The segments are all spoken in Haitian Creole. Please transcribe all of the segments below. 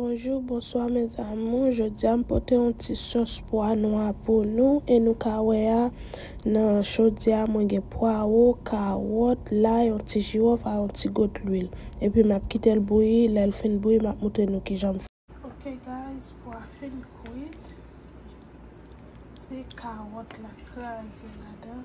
Bonjou bonswa mes amour jodia m pote yon ti sos pwa nwa pou nou e nou ka wè a nan chodyè mwen gen pwaro kawòt lay yon ti jiwòf a yon ti got lwil epi map kitel bouyi lèl fin bouyi map moutre nou kijanm fè ok guys pwa fin kwit se kawòt la kraze ladan.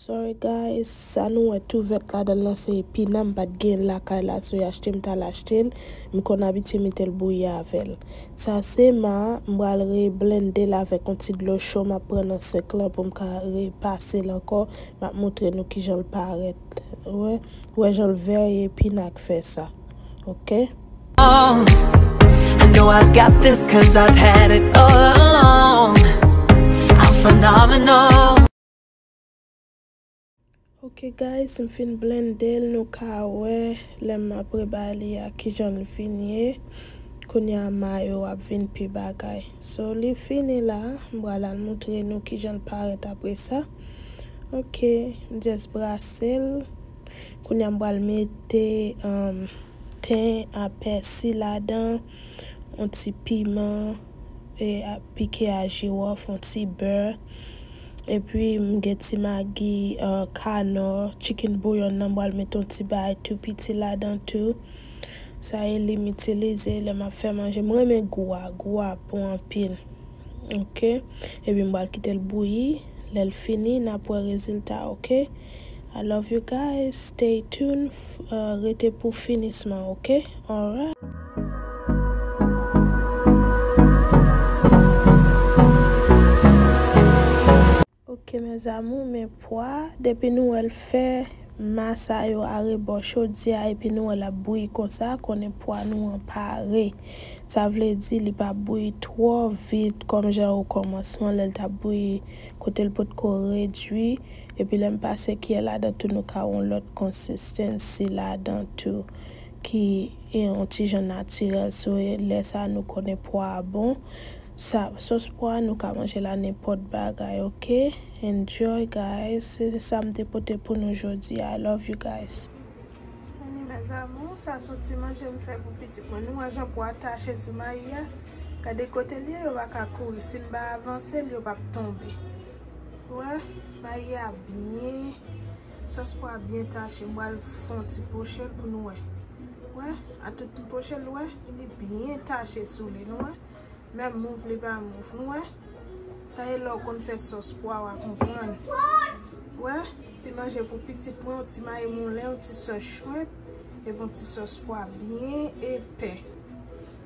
Sorry guys sa nou wè tou vèt ladanl lan se epina m pat genyenl lakay la so yachte m tal achtel m konn abitye metel bouyi avèl sa se ma m pral re blendel avèk on ti dlo cho map pran nan sink lan poum ka re pasel ankò map moutre nou kijanl parèt wè wè janl very epina k fè sa ok. Ok guys m fin blendel nou ka wè lèm apre bay li a kijanl vin ye kounya mayo a ap vin pi bagay so li fini la m pral al moutre nou kijanl parèt apresa ok m just brasel kounya m pral mete ten a pèsi ladan yon ti piman. pike a jirof, yon ti bè, epi m gen ti magi kanò, chicken bouillon nan m pral mete yon ti bagay tou piti ladan tou. Sa e li m itilize lè m ap fè manje. M renmen gou a, gou a bon anpil. Ok, epi m pral kite l bouyi, lè l fini n ap wè rezilta ok. I love you guys stay tune rete pou finisman ok alright. Ok mes amour men pwa depi nou wèl fè ma sa yo arebò chodyè a epi nou wè lap bouyi konsa konnen pwa nou an pare sa vle di li pa bouyi twò vit kòm jan okòmansman lèl tap bouyi kotel potko redwi epi lèm pase kyè ladan tou nou ka wè yon lòt consistency ladan tou ki yon ti jan naturel so lè sa nou konnen pwa a bon sa sos pwa a nou ka manje la nenpòt bagay ok enjoy guys se sam te pote pou nou jodi a i love you guys. Meni mes amours sa son ti manje m fè pou pitit mwen nou wè jan pwa a tache sou mayi a gade kotel ye yo paka kouri sim pa avansel yo pap tonbe. Wè bagy a byen sòs pwa byen tache bwal fon ti pochel pou nou wè wè a tout ti pochel wè li byen tache sou li nou wè menm mouv li pa mouv nou wè sa e lèw konn fè sòs pwa wa konprann wè ti manje pou pitit mwen yon ti mayi moulen yon ti sòs shrimp epi yon ti sòs pwa byen epè.